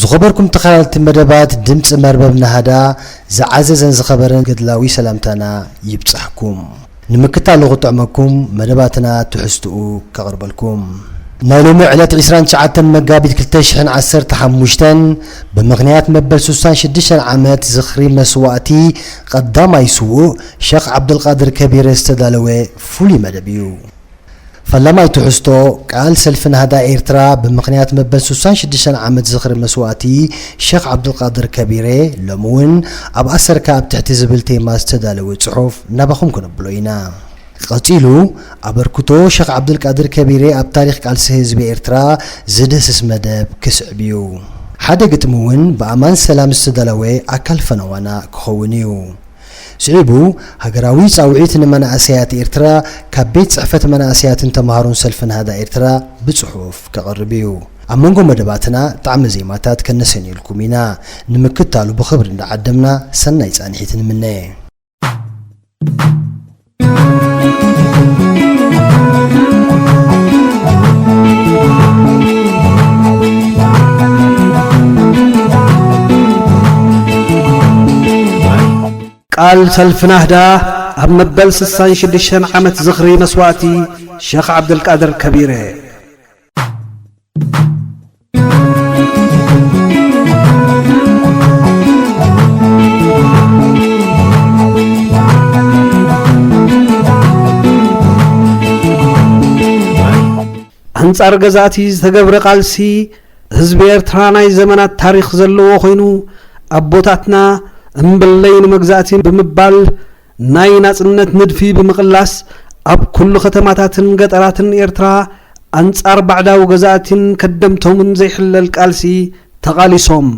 ዝኸበርኩም ተኻታተልቲ መደባት ድምጺ መርበብ ናህዳ ዝዓዘዘን ዝኸበረን ገድላዊ ሰላምታና ይብጻሕኩም። ንምክታሉ ክጥዕመኩም መደባትና ትሕዝትኡ ከቕርበልኩም። ናይ ሎሚ ዕለት ዕስራን ትሽዓተን መጋቢት ክልተ ሽሕን ዓሰርተ ሓሙሽተን ብምኽንያት መበል ስሳን ሽዱሽተን ዓመት ዝኽሪ መስዋእቲ ቐዳማይ ስዉእ ሸኽ ዓብደልቓድር ከቢረ ዝተዳለወ ፍሉይ መደብ እዩ። ፈላማይ ትሕዝቶ ቃል ሰልፊ ናህዳ ኤርትራ ብምኽንያት መበል ስሳን ሽዱሽተን ዓመት ዝኽሪ መስዋእቲ ሸኽ ዓብዱልቃድር ከቢሬ ሎሚ ውን ኣብ ኣሰርካ ኣብ ትሕቲ ዝብል ቴማ ዝተዳለወ ጽሑፍ ናባኹም ክነብሎ ኢና። ቀጺሉ ኣበርክቶ ሸኽ ዓብዱልቃድር ከቢሬ ኣብ ታሪኽ ቃልሲ ህዝቢ ኤርትራ ዝድህስስ መደብ ክስዕብ እዩ። ሓደ ግጥሚ ውን ብኣማን ሰላም ዝተዳለወ ኣካል ፈነዋና ክኸውን እዩ። ስዒቡ ሃገራዊ ጻውዒት ንመናእሰያት ኤርትራ ካብ ቤት ጽሕፈት መናእሰያትን ተማሃሮን ሰልፊ ናህዳ ኤርትራ ብጽሑፍ ከቕርብ ኢዩ። ኣብ መንጎ መደባትና ጣዕመ ዜማታት ከነሰንየልኩም ኢና። ንምክታሉ ብኽብሪ እንዳዓደምና ሰናይ ጻንሒት ንምነ። ቃል ሰልፊ ናህዳ ኣብ መበል ስሳን ሽዱሽተን ዓመት ዝኽሪ መስዋእቲ ሸኽ ዓብደልቃድር ከቢረ ኣንጻር ገዛእቲ ዝተገብረ ቃልሲ ህዝቢ ኤርትራ ናይ ዘመናት ታሪኽ ዘለዎ ኮይኑ ኣቦታትና እምብለይ ንመግዛእቲ ብምባል ናይ ናጽነት ንድፊ ብምቕላስ ኣብ ኩሉ ከተማታትን ገጠራትን ኤርትራ ኣንጻር ባዕዳዊ ገዛእቲን ከደምቶምን ዘይሕለል ቃልሲ ተቓሊሶም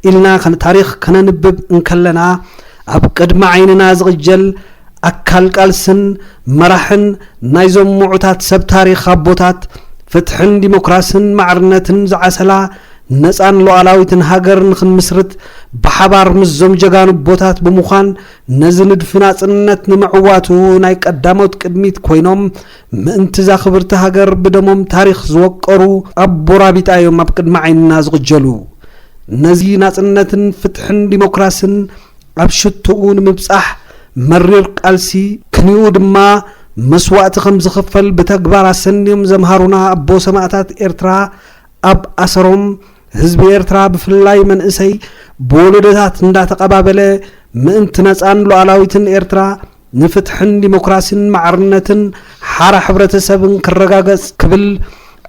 ኢልና ታሪኽ ከነንብብ እንከለና ኣብ ቅድሚ ዓይንና ዝቕጀል ኣካል ቃልስን መራሕን ናይዞም ምዑታት ሰብ ታሪኽ ኣቦታት ፍትሕን ዲሞክራስን ማዕርነትን ዝዓሰላ ነጻን ሉኣላዊትን ሃገር ንኽንምስርት ብሓባር ምስዞም ጀጋኑ ኣቦታት ብምዃን ነዚ ንድፊ ናጽነት ንምዕዋቱ ናይ ቀዳሞት ቅድሚት ኮይኖም ምእንቲ'ዛ ክብርቲ ሃገር ብደሞም ታሪኽ ዝወቀሩ ኣቦራቢጣ እዮም ኣብ ቅድሚ ዓይንና ዝቕጀሉ። ነዚ ናጽነትን ፍትሕን ዲሞክራስን ኣብ ሽቶኡ ንምብጻሕ መሪር ቃልሲ፣ ክንይኡ ድማ መስዋእቲ ከም ዝኽፈል ብተግባር ኣሰንዮም ዘምሃሩና ኣቦ ሰማእታት ኤርትራ ኣብ ኣሰሮም ህዝቢ ኤርትራ ብፍላይ መንእሰይ ብወለዶታት እንዳተቐባበለ ምእንቲ ነጻን ሉኣላዊትን ኤርትራ ንፍትሕን ዲሞክራሲን ማዕርነትን ሓራ ሕብረተሰብን ክረጋገጽ ክብል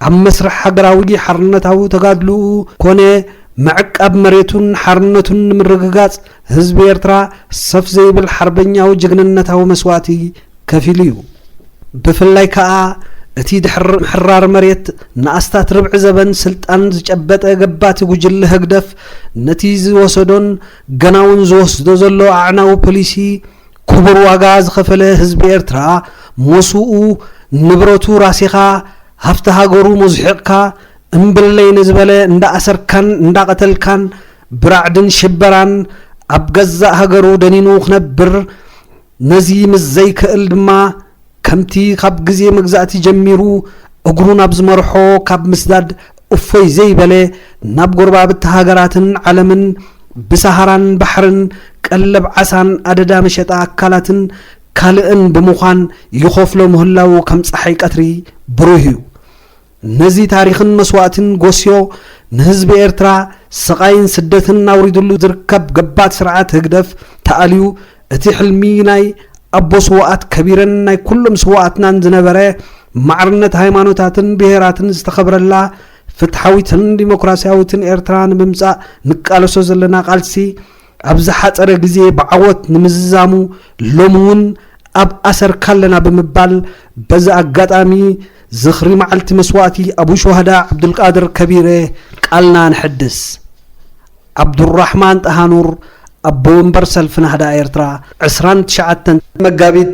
ኣብ መስርሕ ሃገራዊ ሓርነታዊ ተጋድልኡ ኮነ ምዕቃብ መሬቱን ሓርነቱን ንምርግጋጽ ህዝቢ ኤርትራ ሰፍ ዘይብል ሓርበኛዊ ጅግንነታዊ መስዋእቲ ከፊሉ እዩ። ብፍላይ ከኣ እቲ ድሕሪ ምሕራር መሬት ንኣስታት ርብዒ ዘበን ስልጣን ዝጨበጠ ገባቲ ጉጅለ ህግደፍ ነቲ ዝወሰዶን ገናውን ዝወስዶ ዘሎ ኣዕናዊ ፖሊሲ ክቡር ዋጋ ዝኸፈለ ህዝቢ ኤርትራ ሞስኡ ንብረቱ ራሲኻ ሃፍቲ ሃገሩ ሞዝሒቕካ እምብለይ ንዝበለ እንዳኣሰርካን እንዳቐተልካን ብራዕድን ሽበራን ኣብ ገዛእ ሃገሩ ደኒኑ ክነብር ነዚ ምስ ዘይከእል ድማ ከምቲ ካብ ግዜ መግዛእቲ ጀሚሩ እግሩ ናብ ዝመርሖ ካብ ምስዳድ እፎይ ዘይበለ ናብ ጎረባብቲ ሃገራትን ዓለምን ብሰሃራን ባሕርን ቀለብ ዓሳን ኣደዳ መሸጣ ኣካላትን ካልእን ብምዃን ይኸፍሎ ምህላዉ ከም ጸሓይ ቀትሪ ብሩህ እዩ። ነዚ ታሪኽን መስዋእትን ጎስዮ ንህዝቢ ኤርትራ ስቓይን ስደትን ኣውሪድሉ ዝርከብ ገባቲ ስርዓት ህግደፍ ተኣልዩ እቲ ሕልሚ ናይ ኣቦ ስውኣት ከቢረን ናይ ኩሎም ስውኣትናን ዝነበረ ማዕርነት ሃይማኖታትን ብሄራትን ዝተኸብረላ ፍትሓዊትን ዲሞክራስያዊትን ኤርትራ ንምምጻእ ንቃለሶ ዘለና ቃልሲ ኣብ ዝሓጸረ ግዜ ብዓወት ንምዝዛሙ ሎሚ ውን ኣብ ኣሰርካ ኣለና ብምባል በዚ ኣጋጣሚ ዝኽሪ መዓልቲ መስዋእቲ ኣቡ ሹሃዳ ዓብዱልቃድር ከቢረ ቃልና ነሐድስ። ዓብዱልራሕማን ጣሃኑር ኣቦ ወንበር ሰልፊ ናህዳ ኤርትራ ዕስራን ትሽዓተን መጋቢት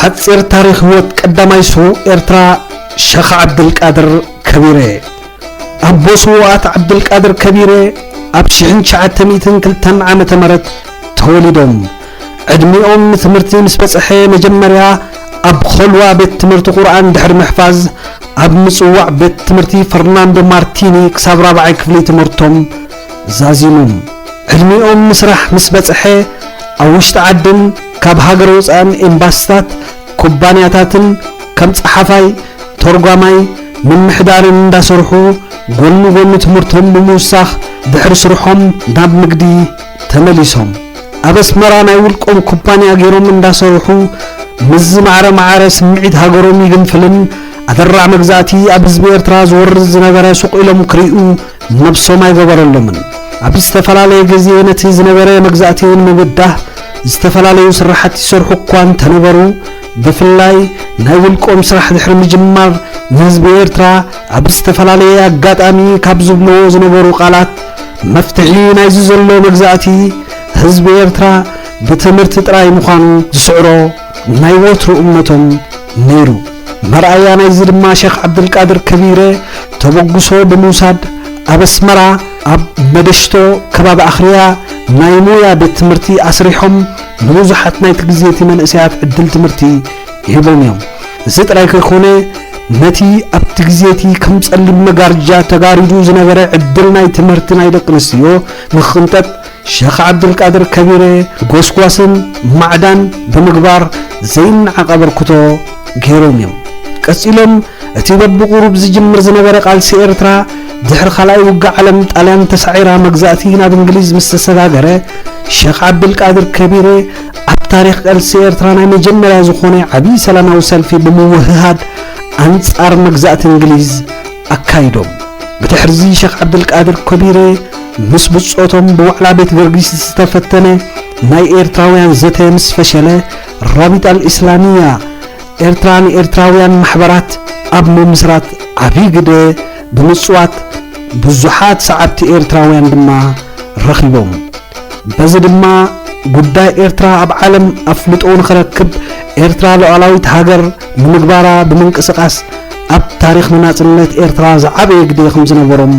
ሓጺር ታሪኽ ህይወት ቀዳማይ ስዉእ ኤርትራ ሸኽ ዓብድልቃድር ከቢረ ኣቦ ስዉኣት ዓብድልቃድር ከቢረ ኣብ ሽሕን ትሽዓተ ሚእትን ክልተን ዓመተ ምህረት ተወሊዶም ዕድሚኦም ንትምህርቲ ምስ በጽሐ መጀመርያ ኣብ ኾልዋ ቤት ትምህርቲ ቁርኣን ድሕሪ ምሕፋዝ ኣብ ምጽዋዕ ቤት ትምህርቲ ፈርናንዶ ማርቲኒ ክሳብ ራብዓይ ክፍሊ ትምህርቶም ዛዚሞም። ዕድሚኦም ንስራሕ ምስ በጽሐ ኣብ ውሽጢ ዓድን ካብ ሃገር ወጻእን ኤምባሲታት፣ ኩባንያታትን ከም ጸሓፋይ፣ ተርጓማይ፣ ምምሕዳርን እንዳሰርሑ ጎኒ ጎኒ ትምህርቶም ብምውሳኽ ድሕሪ ስርሖም ናብ ንግዲ ተመሊሶም ኣብ ኣስመራ ናይ ውልቆም ኩባንያ ገይሮም እንዳሰርሑ ምስ ዝማዕረ ማዕረ ስምዒት ሃገሮም ይግንፍልን ኣደራዕ መግዛእቲ ኣብ ህዝቢ ኤርትራ ዝወርድ ዝነበረ ሱቕ ኢሎም ክሪኡ ነብሶም ኣይገበረሎምን። ኣብ ዝተፈላለየ ግዜ ነቲ ዝነበረ መግዛእቲ ንምብዳህ ዝተፈላለዩ ስራሓት ይሰርሑ እኳ እንተነበሩ ብፍላይ ናይ ውልቆም ስራሕ ድሕሪ ምጅማር ንህዝቢ ኤርትራ ኣብ ዝተፈላለየ ኣጋጣሚ ካብ ዝብልዎ ዝነበሩ ቃላት መፍትሒ ናይዚ ዘሎ መግዛእቲ ህዝቢ ኤርትራ ብትምህርቲ ጥራይ ምዃኑ ዝስዕሮ ናይ ወትሩ እምነቶም ነይሩ። መርኣያ ናይዚ ድማ ሸኽ ዓብደልቃድር ከቢረ ተበግሶ ብምውሳድ ኣብ ኣስመራ ኣብ መደሽቶ ከባቢ ኣኽርያ ናይ ሞያ ቤት ትምህርቲ ኣስሪሖም ንብዙሓት ናይቲ ግዜ'ቲ መንእሰያት ዕድል ትምህርቲ ይህቦም እዮም። እዚ ጥራይ ከይኮነ ነቲ ኣብቲ ግዜ እቲ ከም ጸሊም መጋርጃ ተጋሪዱ ዝነበረ ዕድል ናይ ትምህርቲ ናይ ደቂ ኣንስትዮ ንክቕንጠጥ ሸኽ ዓብዱልቃድር ከቢረ ጎስጓስን ማዕዳን ብምግባር ዘይነዓቕ ኣበርክቶ ገይሮም እዮም። ቀጺሎም እቲ በብቑሩብ ዝጅምር ዝነበረ ቃልሲ ኤርትራ ድሕሪ ካልኣይ ውግእ ዓለም ጣልያን ተሳዒራ መግዛእቲ ናብ እንግሊዝ ምስ ተሰጋገረ ሸኽ ዓብድልቃድር ከቢረ ኣብ ታሪኽ ቃልሲ ኤርትራ ናይ መጀመርያ ዝኾነ ዓብዪ ሰላማዊ ሰልፊ ብምውህሃድ ኣንጻር መግዛእቲ እንግሊዝ ኣካይዶም። ብድሕርዚ ሸኽ ዓብደልቃድር ኮቢረ ምስ ብጾቶም ብዋዕላ ቤት ገርጊስ ዝተፈተነ ናይ ኤርትራውያን ዘተ ምስ ፈሸለ ራቢጣ ኣልእስላምያ ኤርትራ ንኤርትራውያን ማሕበራት ኣብ ምምስራት ዓብዪ ግደ ብምጽዋት ብዙሓት ሰዓብቲ ኤርትራውያን ድማ ረኺቦም። በዚ ድማ ጉዳይ ኤርትራ ኣብ ዓለም ኣፍልጦ ንኽረክብ ኤርትራ ሉዓላዊት ሃገር ንምግባራ ብምንቅስቓስ ኣብ ታሪኽ ንናጽነት ኤርትራ ዝዓበየ ግደ ከምዝነበሮም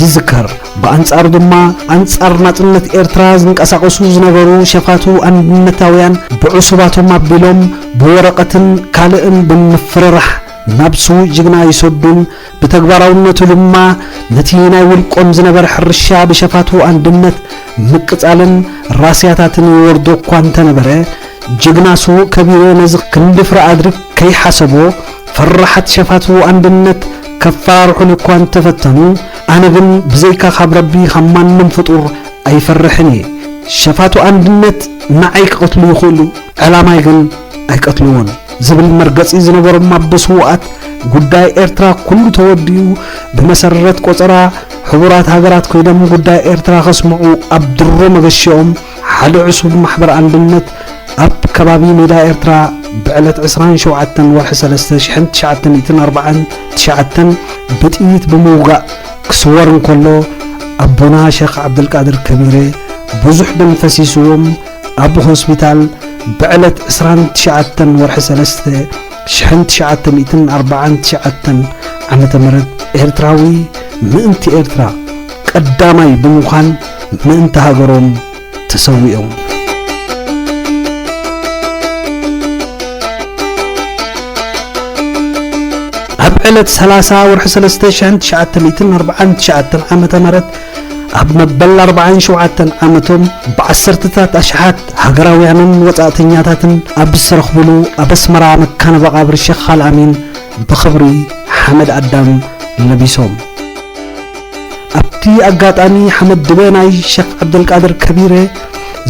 ይዝከር። ብኣንጻሩ ድማ ኣንጻር ናጽነት ኤርትራ ዝንቀሳቐሱ ዝነበሩ ሸፋቱ ኣንድነታውያን ብዕሱባቶም ኣቢሎም ብወረቐትን ካልእን ብምፍርራሕ ናብ ስዉእ ጅግና ይሰዱን ብተግባራውነቱ ድማ ነቲ ናይ ውልቆም ዝነበረ ሕርሻ ብሸፋቱ ኣንድነት ምቅጻልን ራስያታትን ይወርዶ እኳ እንተነበረ፣ ጅግና ስዉእ ከቢሮ ነዚ ክንዲ ፍረ ኣድሪ ከይሓሰቦ፣ ፈራሓት ሸፋቱ ኣንድነት ከፈራርሑኒ እኳ እንተፈተኑ፣ ኣነ ግን ብዘይካ ካብ ረቢ ካብ ማንም ፍጡር ኣይፈርሕን እየ። ሸፋቱ ኣንድነት ንዓይ ክቐትሉ ይኽእሉ፣ ዕላማይ ግን ኣይቀትልዎን ዝብል መርገጺ ዝነበሮም ኣቦ ስውኣት ጉዳይ ኤርትራ ኩሉ ተወዲኡ ብመሰረት ቆጸራ ሕቡራት ሃገራት ኮይኖም ጉዳይ ኤርትራ ከስምዑ ኣብ ድሮ መገሽኦም ሓደ ዕሱብ ማሕበር ኣንድነት ኣብ ከባቢ ሜዳ ኤርትራ ብዕለት 27 ወርሒ 3 1949 ብጥይት ብምውጋእ ክስወር እንከሎ ኣቦና ሸኽ ዓብደልቃድር ከቢረ ብዙሕ ደም ፈሲስዎም ኣብ ሆስፒታል ብዕለት ዕስራን ትሽዓተን ወርሒ ሰለስተ ሽሕን ትሽዓተ ሚእትን ኣርብዓን ትሽዓተን ዓመተ ምህረት ኤርትራዊ ምእንቲ ኤርትራ ቀዳማይ ብምዃን ምእንቲ ሃገሮም ተሰዊኦም። ዕለት 30 ወርሒ 3 1949 ዓ ም ኣብ መበል ኣርባዓን ሸውዓተን ዓመቶም ብዓሰርተታት ኣሽሓት ሃገራውያንን ወጻእተኛታትን ኣብ ዝተረኽብሉ ኣብ ኣስመራ መካነ መቓብር ሸኽ ኣልኣሚን ብኽብሪ ሓመድ ኣዳም ለቢሶም። ኣብቲ ኣጋጣሚ ሓመድ ድበ ናይ ሸኽ ዓብደልቃድር ከቢረ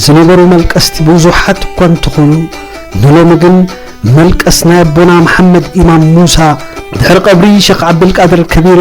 ዝነበሩ መልቀስቲ ብዙሓት እኳ እንተኾኑ ንሎሚ ግን መልቀስ ናይ ኣቦና መሓመድ ኢማም ሙሳ ድሕሪ ቀብሪ ሸኽ ዓብደልቃድር ከቢረ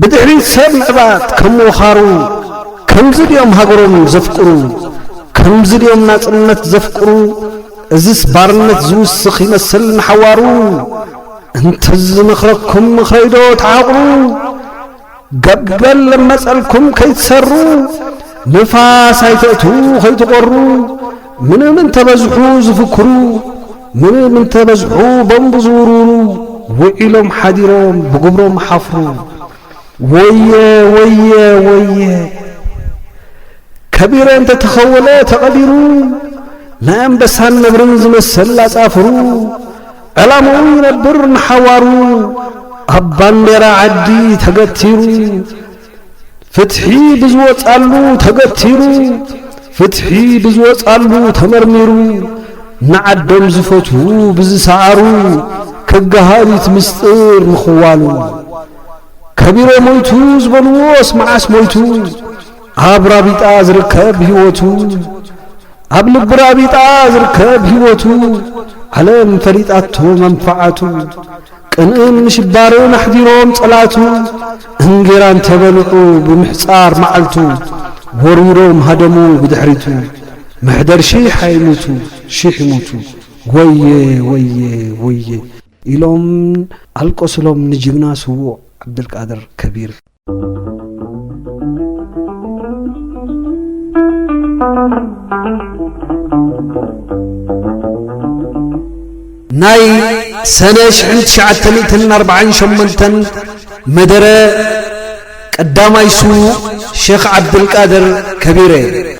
ብድሕሪት ሰብ ምዕባት ከም ወኻሩ ከምዚ ድዮም ሃገሮም ዘፍቅሩ ከምዚ ድዮም ናጽነት ዘፍቅሩ እዝስ ባርነት ዝውስኽ ይመስል ንሓዋሩ እንተዝመኽረኩም ምኽረይዶ ተሓቕሩ ገበል ለመጸልኩም ከይትሰሩ ንፋስ ኣይተእትዉ ከይትቖሩ ምንም እንተበዝሑ ዝፍክሩ ምንም እንተበዝሑ ቦምብ ዝውርውሩ ውዒሎም ሓዲሮም ብግብሮም ሓፍሩ ወየ ወየ ወየ ከቢረ እንተተኸወለ ተቐቢሩ ናይ ኣንበሳን ነብርን ዝመሰል ኣጻፍሩ ዕላምኡ ይነብር ንሓዋሩ ኣብ ባንዴራ ዓዲ ተገቲሩ ፍትሒ ብዝወጻሉ ተገቲሩ ፍትሒ ብዝወጻሉ ተመርሚሩ ንዓዶም ዝፈትዉ ብዝሰዓሩ ክገሃዲት ምስጢር ምኽዋሉ ከቢሮ ሞይቱ ዝበልዎስ መዓስ ሞይቱ ኣብ ራቢጣ ዝርከብ ህይወቱ ኣብ ልቢ ራቢጣ ዝርከብ ህይወቱ ዓለም ፈሊጣቶ መንፈዓቱ ቅንእን ምሽባርን ኣሕዲሮም ጸላእቱ እንጌራ እንተ በልዑ ብምሕጻር መዓልቱ ወርዊሮም ሃደሙ ብድሕሪቱ መሕደር ሺሕ ኣይሙቱ ሺሕ ይሙቱ ወየ ወየ ወየ ኢሎም ኣልቀሱሎም ንጅግና ስዉእ ዓብደልቃድር ከቢር። ናይ ሰነ ሽሕን ትሽዓተ ሚእትን ኣርባዓን ሸሞንተን መደረ ቀዳማይ ስዉእ ሸኽ ዓብድልቃድር ከቢረ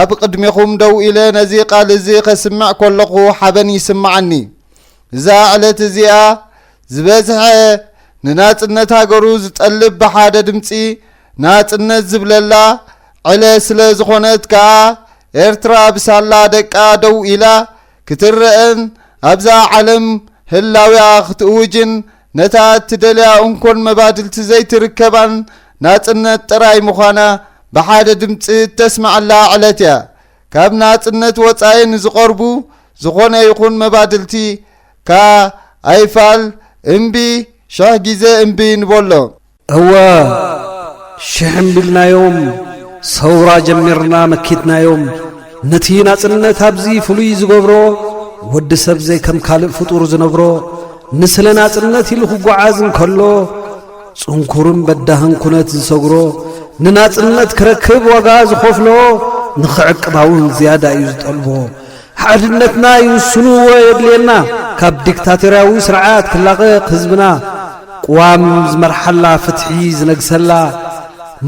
ኣብ ቕድሜኹም ደው ኢለ ነዚ ቓል እዚ ኸስምዕ ከለኹ ሓበን ይስምዓኒ። እዛ ዕለት እዚኣ ዝበዝሐ ንናጽነት ሃገሩ ዝጠልብ ብሓደ ድምጺ ናጽነት ዝብለላ ዕለ ስለ ዝኾነት ከኣ ኤርትራ ብሳላ ደቃ ደው ኢላ ክትረእን ኣብዛ ዓለም ህላዊኣ ክትእውጅን ነታ እትደልያ እንኮን መባድልቲ ዘይትርከባን ናጽነት ጥራይ ምዃና ብሓደ ድምጺ እተስምዐላ ዕለት እያ። ካብ ናጽነት ወጻኢ ንዝቐርቡ ዝኾነ ይኹን መባድልቲ ከኣ ኣይፋል፣ እምቢ፣ ሽሕ ግዜ እምቢ ንበሎ። እወ፣ ሽሕ እምቢ ኢልናዮም፣ ሰውራ ጀሚርና መኪትናዮም። ነቲ ናጽነት ኣብዚ ፍሉይ ዝገብሮ፣ ወዲ ሰብ ዘይከም ካልእ ፍጡር ዝነብሮ፣ ንስለ ናጽነት ኢሉ ክጓዓዝ እንከሎ፣ ጽንኩርን በዳህን ኩነት ዝሰግሮ፣ ንናጽነት ክረክብ ዋጋ ዝኸፍሎ፣ ንኽዕቅባውን ዝያዳ እዩ ዝጠልቦ። ሓድነትና ይውስንዎ የድልየና፣ ካብ ዲክታቶርያዊ ስርዓት ክላቐቕ ህዝብና፣ ቅዋም ዝመርሓላ፣ ፍትሒ ዝነግሰላ፣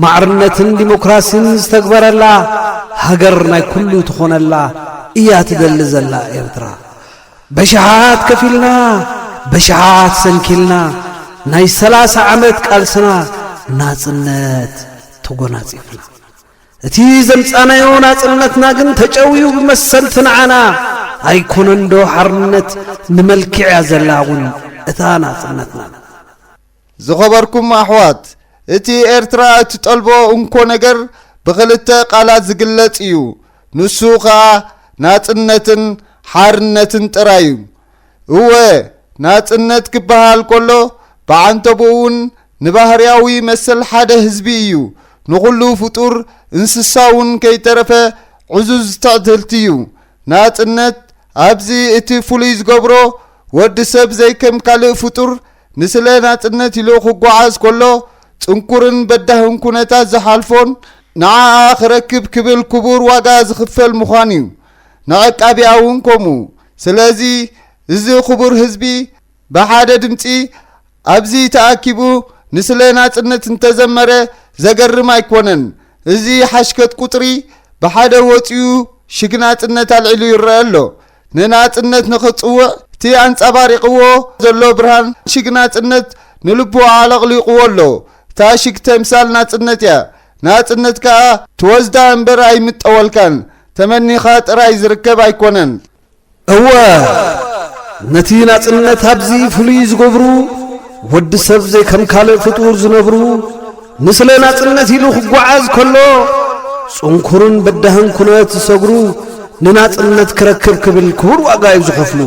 ማዕርነትን ዲሞክራሲን ዝተግበረላ፣ ሃገር ናይ ኩሉ ትኾነላ እያ ትደሊ ዘላ ኤርትራ። በሽሓት ከፊልና በሽሓት ሰንኪልና ናይ ሰላሳ ዓመት ቃልስና ናጽነት ተጎናጺፍና እቲ ዘምጻናዮ ናጽነትና ግን ተጨውዩ ብመሰልቲ ንዓና ኣይኮነንዶ ሓርነት ንመልክዕያ ዘላ እውን እታ ናጽነትና ዝኸበርኩም ኣሕዋት፣ እቲ ኤርትራ እትጠልቦ እንኮ ነገር ብኽልተ ቃላት ዝግለጽ ኢዩ። ንሱ ከኣ ናጽነትን ሓርነትን ጥራይ ኢዩ። እወ፣ ናጽነት ክበሃል ከሎ ብዓንተብኡ እውን ንባህርያዊ መሰል ሓደ ህዝቢ ኢዩ። ንኹሉ ፍጡር እንስሳ እውን ከይተረፈ ዕዙዝ ትዕድልቲ ኢዩ። ናጽነት ኣብዚ እቲ ፍሉይ ዝገብሮ ወዲ ሰብ ዘይከም ካልእ ፍጡር ንስለ ናጽነት ኢሉ ክጓዓዝ ከሎ ጽንኩርን በዳህን ኩነታት ዝሓልፎን ንዓኣ ክረክብ ክብል ክቡር ዋጋ ዝኽፈል ምዃን እዩ። ንዐቃቢኣ እውን ከምኡ። ስለዚ እዚ ክቡር ህዝቢ ብሓደ ድምጺ ኣብዚ ተኣኪቡ ንስለ ናጽነት እንተዘመረ ዘገርም ኣይኮነን። እዚ ሓሽከት ቁጽሪ ብሓደ ወጺኡ ሽግ ናጽነት ኣልዒሉ ይረኣ ኣሎ። ንናጽነት ንኽጽውዕ እቲ ኣንጻባሪቕዎ ዘሎ ብርሃን ሽግ ናጽነት ንልቡ ኣዕለቕሊቕዎ ኣሎ። እታ ሽግ ተምሳል ናጽነት እያ። ናጽነት ከኣ ትወስዳ እምበር ኣይምጠወልካን፣ ተመኒኻ ጥራይ ዝርከብ ኣይኮነን። እወ፣ ነቲ ናጽነት ኣብዚ ፍሉይ ዝገብሩ፣ ወዲ ሰብ ዘይከም ካልእ ፍጡር ዝነብሩ፣ ንስለ ናጽነት ኢሉ ክጓዓዝ ከሎ ጽንኩርን በዳህን ኩነት ዝሰግሩ ንናጽነት ክረክብ ክብል ክቡር ዋጋ እዩ ዝኸፍሉ።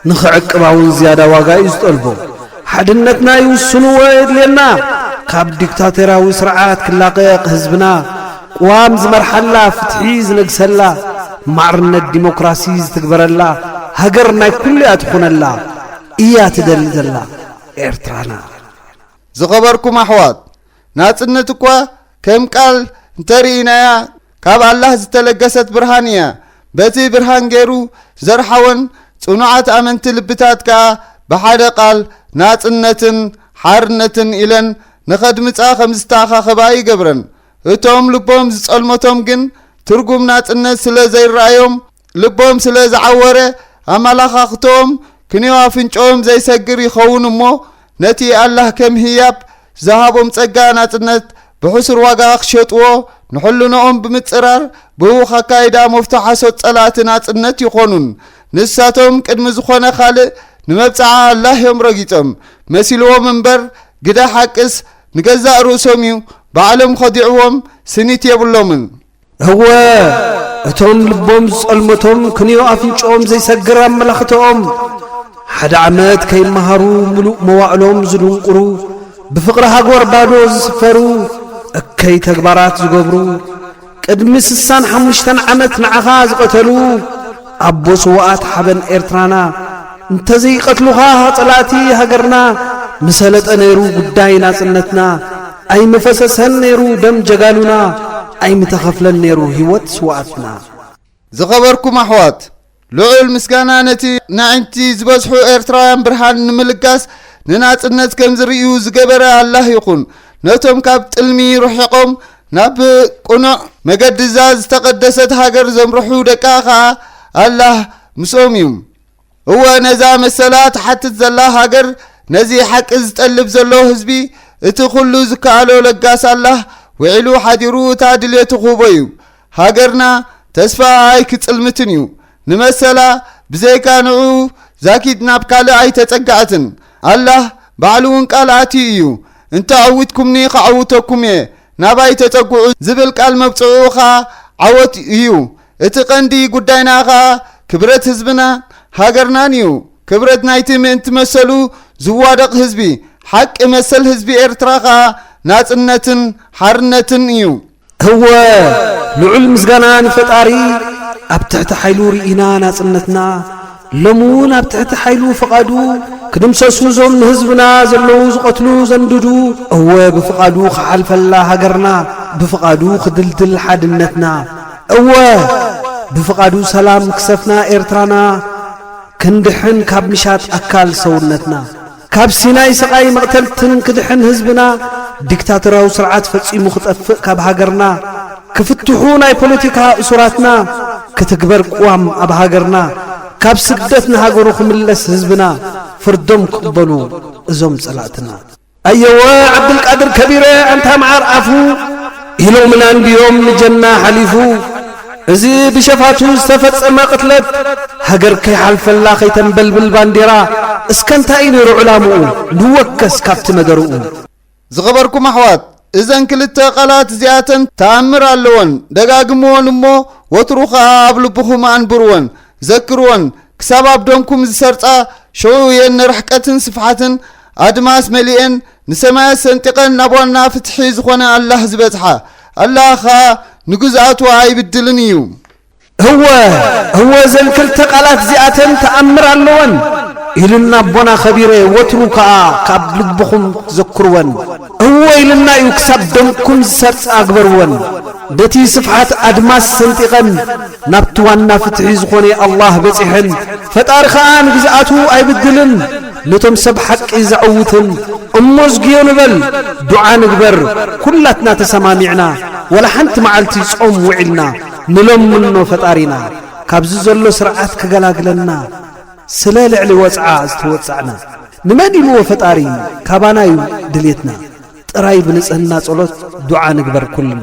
ንኽዕቅባ ውን ዝያዳ ዋጋ እዩ ዝጠልቦ። ሓድነትና ይውስንዎ የድልየና። ካብ ዲክታቶርያዊ ስርዓት ክላቐቕ ህዝብና ቅዋም ዝመርሓላ፣ ፍትሒ ዝነግሰላ፣ ማዕርነት ዲሞክራሲ ዝትግበረላ ሃገር ናይ ኩሉ'ያ ትኹነላ እያ ትደሊ ዘላ ኤርትራና። ዝኸበርኩም ኣሕዋት፣ ናጽነት እኳ ከም ቃል እንተ ርኢናያ፣ ካብ ኣላህ ዝተለገሰት ብርሃን ኢያ። በቲ ብርሃን ገይሩ ዘርሓወን ጽኑዓት ኣመንቲ ልብታት ከኣ ብሓደ ቃል ናጽነትን ሓርነትን ኢለን ንኸድምጻ ከም ዝተኣኻኸባ ይገብረን። እቶም ልቦም ዝጸልመቶም ግን ትርጉም ናጽነት ስለ ዘይረኣዮም፣ ልቦም ስለ ዝዓወረ ኣመላኻኽትኦም ክንዮ ኣፍንጮኦም ዘይሰግር ይኸውን እሞ ነቲ ኣላህ ከም ህያብ ዝሃቦም ጸጋ ናጽነት ብሕሱር ዋጋ ክሸጥዎ ንሕልኖኦም ብምጽራር ብህውኽ ኣካይዳ መፍቶ ሓሶት ጸላእቲ ናጽነት ይኾኑን ንሳቶም ቅድሚ ዝኾነ ካልእ ንመብጽዓ ኣላህ እዮም ረጊጾም መሲልዎም እምበር ግደ ሓቅስ ንገዛእ ርእሶም እዩ ባዕሎም ኸዲዕዎም ስኒት የብሎምን እወ እቶም ልቦም ዝጸልመቶም ክንዮ ኣፍንጭኦም ዘይሰግር ኣመላኽተኦም ሓደ ዓመት ከይመሃሩ ምሉእ መዋእሎም ዝድንቁሩ ብፍቕሪ ሃጎር ባዶ ዝስፈሩ እከይ ተግባራት ዝገብሩ ቅድሚ ስሳን ሓሙሽተን ዓመት ንዓኻ ዝቐተሉ ኣቦ ስዋኣት ሓበን ኤርትራና እንተዘይቀትሉኻ ጸላእቲ ሃገርና ምሰለጠ ነይሩ ጉዳይ ናጽነትና ኣይምፈሰሰን ነይሩ ደም ጀጋኑና ኣይምተኸፍለን ነይሩ ሂወት ስውኣትና። ዝኸበርኩም ኣሕዋት፣ ልዑል ምስጋና ነቲ ነዒንቲ ዝበዝሑ ኤርትራውያን ብርሃን ንምልጋስ ንናጽነት ከም ዝርእዩ ዝገበረ ኣላህ ይኹን። ነቶም ካብ ጥልሚ ርሒቖም ናብ ቅኑዕ መገዲ'ዛ ዝተቐደሰት ሃገር ዘምርሑ ደቃ ከኣ ኣላህ ምስኦም እዩ። እወ ነዛ መሰላ ትሓትት ዘላ ሃገር ነዚ ሓቂ ዝጠልብ ዘሎ ህዝቢ እቲ ኩሉ ዝከኣሎ ለጋስ ኣላህ ውዒሉ ሓዲሩ እታ ድልየቱ ክህቦ እዩ ሃገርና ተስፋ ኣይክጽልምትን እዩ ንመሰላ ብዘይካ ንዑ ዛኪድ ናብ ካልእ ኣይተጸጋዕትን ኣላህ ባዕሉ እውን ቃል ኣትዩ እዩ እንተዐዊትኩምኒ ከዐውተኩም እየ ናባይ ተጸጉዑ ዝብል ቃል መብጽዑኡ ኸኣ ዓወት እዩ እቲ ቀንዲ ጉዳይና ከኣ ክብረት ህዝብና ሃገርናን እዩ። ክብረት ናይቲ ምእንቲ መሰሉ ዝዋደቕ ህዝቢ፣ ሓቂ መሰል ህዝቢ ኤርትራ ከኣ ናጽነትን ሓርነትን እዩ። እወ ልዑል ምስጋና ንፈጣሪ ኣብ ትሕቲ ሓይሉ ርኢና ናጽነትና ሎሚ እውን ኣብ ትሕቲ ሓይሉ ፍቓዱ ክድምሰሱ እዞም ንህዝብና ዘለዉ ዝቐትሉ ዘንድዱ እወ ብፍቓዱ ክሓልፈላ ሃገርና ብፍቓዱ ክድልድል ሓድነትና እወ ብፍቓዱ ሰላም ክሰፍና ኤርትራና ክንድሕን ካብ ምሻጥ ኣካል ሰውነትና ካብ ሲናይ ስቓይ መቕተልትን ክድሕን ህዝብና ዲክታተራዊ ስርዓት ፈጺሙ ክጠፍእ ካብ ሃገርና ክፍትሑ ናይ ፖለቲካ እሱራትና ክትግበር ቅዋም ኣብ ሃገርና ካብ ስደት ንሃገሩ ክምለስ ህዝብና ፍርዶም ክቕበሉ እዞም ጸላእትና። ኣየወ ዓብዱልቃድር ከቢረ ኣንታ መዓር ኣፉ ኢሎምና እንድዮም ንጀና ሓሊፉ እዚ ብሸፋቱ ዝተፈጸመ ቅትለት፣ ሃገር ከይሓልፈላ ከይተንበልብል ባንዴራ እስከ እንታይ እዩ ነይሩ ዕላምኡ ንወከስ ካብቲ ነገርኡ። ዝኸበርኩም ኣሕዋት እዘን ክልተ ቃላት እዚኣተን ተኣምር ኣለወን ደጋግምወን እሞ ወትሩ ከኣ ኣብ ልብኹም ኣንብርወን ዘክርወን ክሳብ ኣብ ደምኩም ዝሰርጻ ሸውኡ እየን ንርሕቀትን ስፍሓትን ኣድማስ መሊኤን ንሰማያት ሰንጢቐን ናብ ዋና ፍትሒ ዝኾነ ኣላህ ዝበጽሓ ኣላህ ኸኣ ንግዝኣቱ ኣይብድልን እዩ። እወ እወ እዘን ክልተ ቃላት እዚኣተን ተኣምር ኣለወን ኢሉና ኣቦና ከቢረ ወትሩ ከኣ ካብ ልብኹም ዘክርወን እወ ኢሉና እዩ ክሳብ ደምኩም ዝሰርጻ ግበርወን በቲ ስፍሓት ኣድማስ ሰንጢቐን ናብቲ ዋና ፍትሒ ዝኾነ ኣላህ በጺሐን ፈጣሪ ከኣ ንግዝኣቱ ኣይብድልን ነቶም ሰብ ሓቂ ዘዕውትን እሞ ኣዝግዮ ንበል ዱዓ ንግበር ኩላትና ተሰማሚዕና ወላ ሓንቲ መዓልቲ ጾም ውዒልና ንለምኖ ፈጣሪና ካብዚ ዘሎ ስርዓት ክገላግለና ስለ ልዕሊ ወጽዓ ዝተወጻዕና ንመን ኢልዎ ፈጣሪ ካባና እዩ ድሌትና ጥራይ ብንጽህና ጸሎት ዱዓ ንግበር ኩልና።